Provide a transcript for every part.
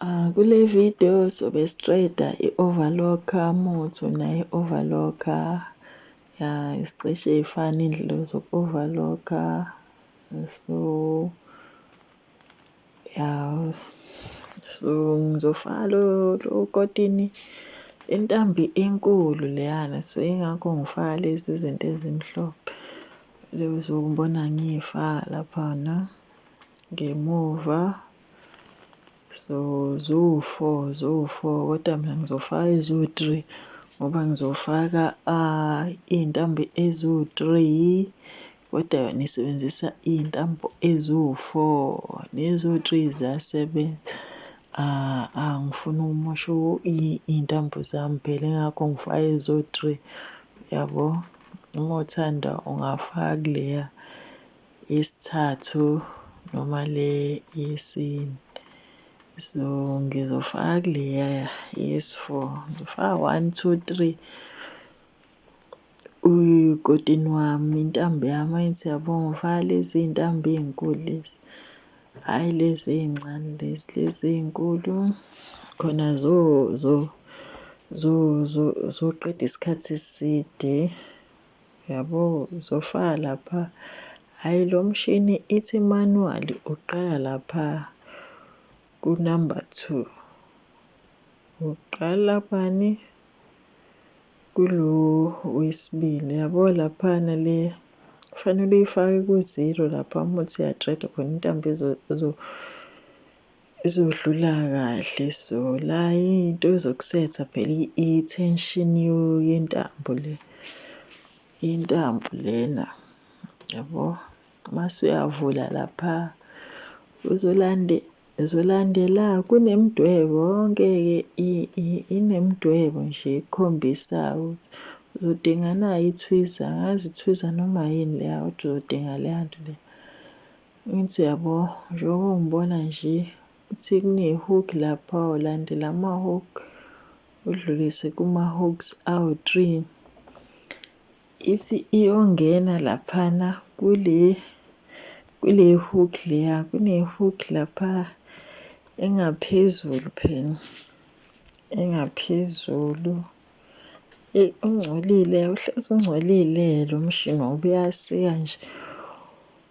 Ah, kule video sobe siqeda i-overlocker muthu naye overlocker ya isicishe ifana indlela zoku-overlocker so ya so ngizofaka lo kotini intambi enkulu leyana so ingakho ngifaka lezi zinto ezimhlophe lezokubona ngiyifaka laphana ngemuva so ziwu-four ziwu-four kodwa mina ngizofaka eziwu-three ngoba ngizofaka uh, iy'ntambo eziwu-three kodwa yona isebenzisa iy'ntambo eziwu-four neziwu-three ziyasebenza uh, angifuni uh, ukumosha iy'ntambo zami phela ingakho ngifaka eziwu-three yabo uma uthanda ungafaka kuleya Yesithathu noma le yesine. So ngizofaka kuleya yesi-four. Ngifaka one, two, three. Ukotini wami, intambo yami angithi uyabona ngifaka lezi iy'ntambo ey'nkulu lezi, hhayi lezi ey'ncane lezi, lezi ey'nkulu khona zoqeda isikhathi eside. Yabo zofa lapha. Hayi lo mshini ithi manual uqala lapha ku number 2. Uqala bani kulo wesibili yabo lapha nale kufanele uyifake ku zero lapha umuthi ya dread khona intambo ezo Izodlula kahle so la into ezokusetha phela i-tension yentambo le intambo lena yabo mase uyavula lapha uzolande uzolandela kunemidwebo yonke-ke inemidwebo nje ekhombisa uzodinga nayo ithwiza ngazi ithwiza noma yini leya kodwa uzodinga leya nto leya. Ngithi yabo njengoba ungibona nje uthi kune-hook lapha ulandela ama-hook udlulise kuma-hooks awu-three. Ithi iyongena laphana kule kule hook leya kune-hook lapha engaphezulu phela engaphezulu. Eyi ungcolile uhlezi ungcolile lo mshini ngoba uyasika nje.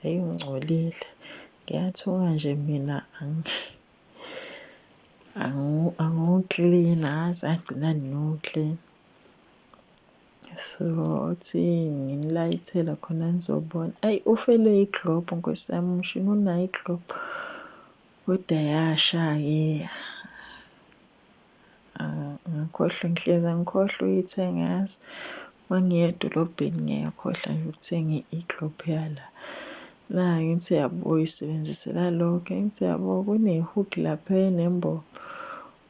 Hhayi ungcolile. Ngiyathuka nje mina angiwuklini angazi agcina ngiwuklini. So uthi nginilayithele khona nizobona. Ayi ufelwe iglobhu nkosi yami umshini unayo iglobhu. Kodwa yasha-ke. Angikhohlwa ngihlezi angikhohlwa uyithenga yazi uma ngiya edolobheni ngiyakhohlwa nje ukuthenga i-eclop yala nayo ngithi uyabo uyisebenzisela lokho ngithi uyabo kune-hook lapha enembobo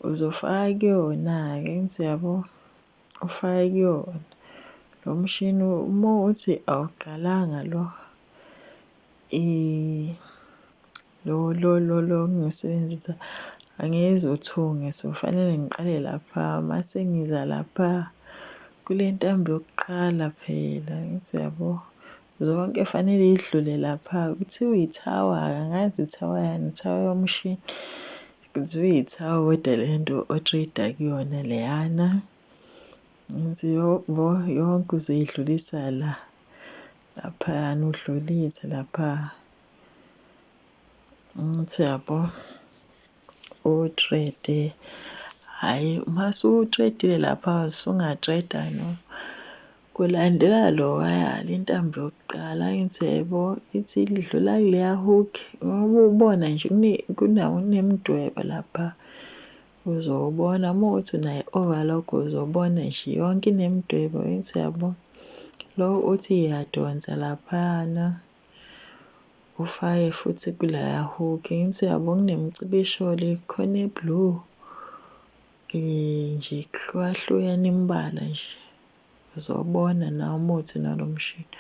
uzofaka kuyona-ke ngithi uyabo ufake kuyona lo mshini uma uthi awuqalanga lo Lo lo lo lo ngisebenzisa angezi uthunge so fanele ngiqale lapha mase ngiza lapha kule ntambo yokuqala phela ngithi uyabo zonke fanele idlule lapha kuthiwa ithawa angazi ithawa yani ithawa yomshini kuthiwa ithawa kodwa le nto otrade kuyona leyana ngithi yobo yonke uzoyidlulisa la laphayana udlulise lapha Ngithi uyabo utrede hhayi uma sutredile lapha sungatreda no kulandela lowaya le ntambo yokuqala ngithi yebo ithi idlula kuleya hook ngoba ubona nje kunemidwebo lapha uzobona uma ukuthi unayo i-overlock uzobona nje yonke inemidwebo ngithi uyabo lo uthi iyadonsa laphayana. Ufake futhi kulaya hook ngithi uyabo kunemicibisho le khona e-blue nje kuhlukahlukene imibala nje uzobona nawe uma uthi nalo mshini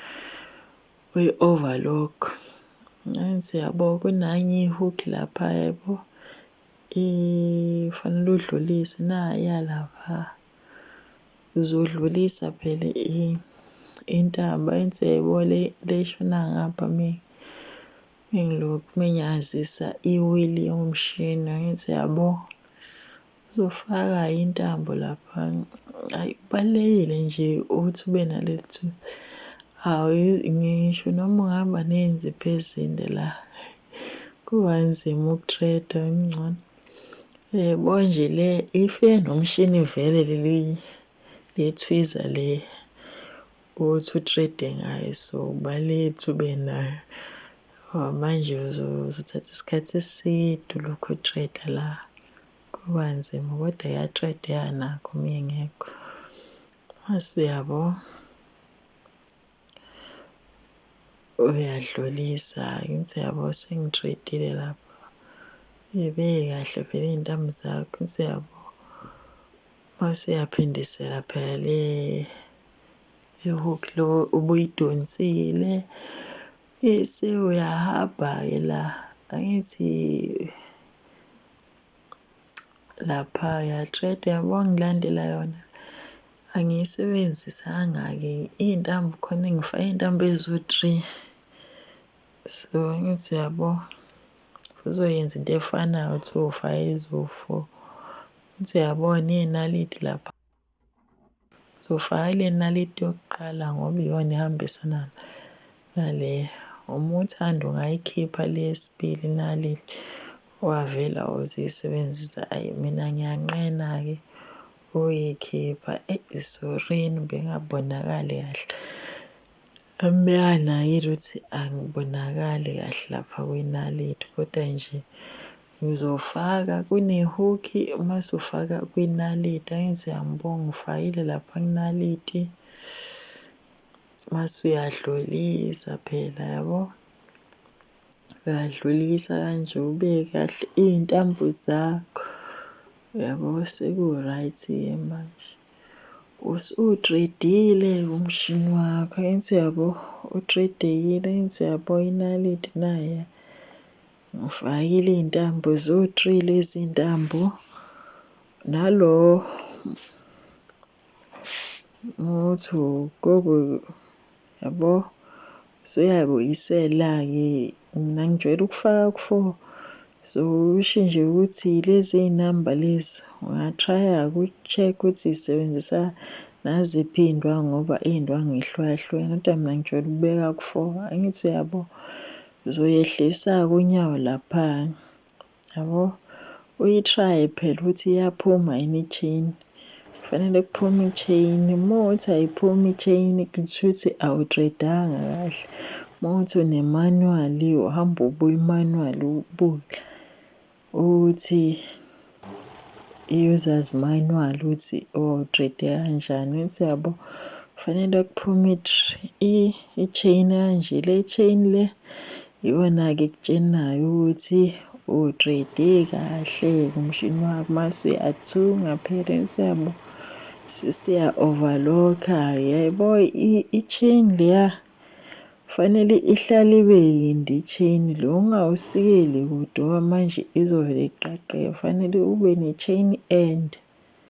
uyi-overlock. Ngangithi uyabo kunanye i-hook lapha yabo kufanele udlulise naya lapha. Uzodlulisa phela intaba enso yayibona le le eshona ngapha me mengilokhu menyazisa iwili yomshini ngithi yabo uzofaka intambo lapha ayi kubalulekile nje ukuthi ube naleli thuba hawu ngisho noma ungahamba nezinzipho ezinde la kuba nzima ukutreda ngcono Yebo nje le if enomshini vele leli lethwiza le othi u-trade ngayo so baletha ube nayo. Ngoba manje uzothatha isikhathi eside ulokhu u-trade la, kuba nzima kodwa iya-trade-eka nakho uma ingekho. Mase uyabo? uyadlulisa ngithi yabo sengitradile lapha uyibeke kahle vele iy'ntambo zakho ngithi yabo mase uyaphindisela phela le ihook lo ubuyidonsile bese uyahamba-ke la angithi laphaya straight yabo ngilandela yona angiyisebenzisanga-ke iy'ntambo khona ngifake iy'ntambo eziwu-three so angithi uyabo uzoyenza into efanayo kuthiwa ufake eziwu-four ukuthi uyabona iy'naliti lapha. Uzofaka kule naliti yokuqala ngoba iyona ehambisana nale. Uma uthanda ungayikhipha le yesibili inaliti wavela uzisebenzisa. Ayi mina ngiyanqena-ke ukuyikhipha. Eyi sorry-ni bengabonakali kahle. Amehana yini ukuthi angibonakali kahle lapha kwinaliti kodwa nje ngizofaka kunehukhi uma sufaka kwinaliti angithi uyangibonga ngifakile lapha kunaliti mase uyadlulisa phela yabo uyadlulisa kanje ubeke kahle iy'ntambo zakho yabo seku-right-ke manje. Nkosi uwutredile umshini wakho ensi yabo utredekile ensi yabo inaliti naya ngifakile iy'ntambo ziwu-three-le izintambo nalo muthi ugobe. Yabo usuyayibuyisela-ke mina ngijwayele ukufaka ku-4 so usho nje ukuthi lezi iy'namba lezi ungatraya ku-check ukuthi zisebenzisa naziphi iy'ndwangu ngoba iy'ndwangu yihlukahlukene kodwa mina ngijwayele ukubeka ku-4 angithi uyabo uzoyehlisa-ke unyawo lapha Yabo uyi-try phela ukuthi iyaphuma yini i-chain. Kufanele kuphume i-chain. Uma uthi ayiphumi i-chain kusho ukuthi awutredanga kahle. Uma uthi une-manual uhamba ubuya i-manual ubuke ukuthi i-users manual ukuthi utrede kanjani. Uthi yabo kufanele kuphume i-chain kanje. Le chain le Iwena-ke ekutshenayo ukuthi utrade kahle ngomshini wakho mase uyathunga parents yabo sisiya overlocka yebo i-chain leya fanele ihlale ibe yinde i-chain le ungawusikeli kude manje izovele iqaqeke fanele ube ne-chain ende.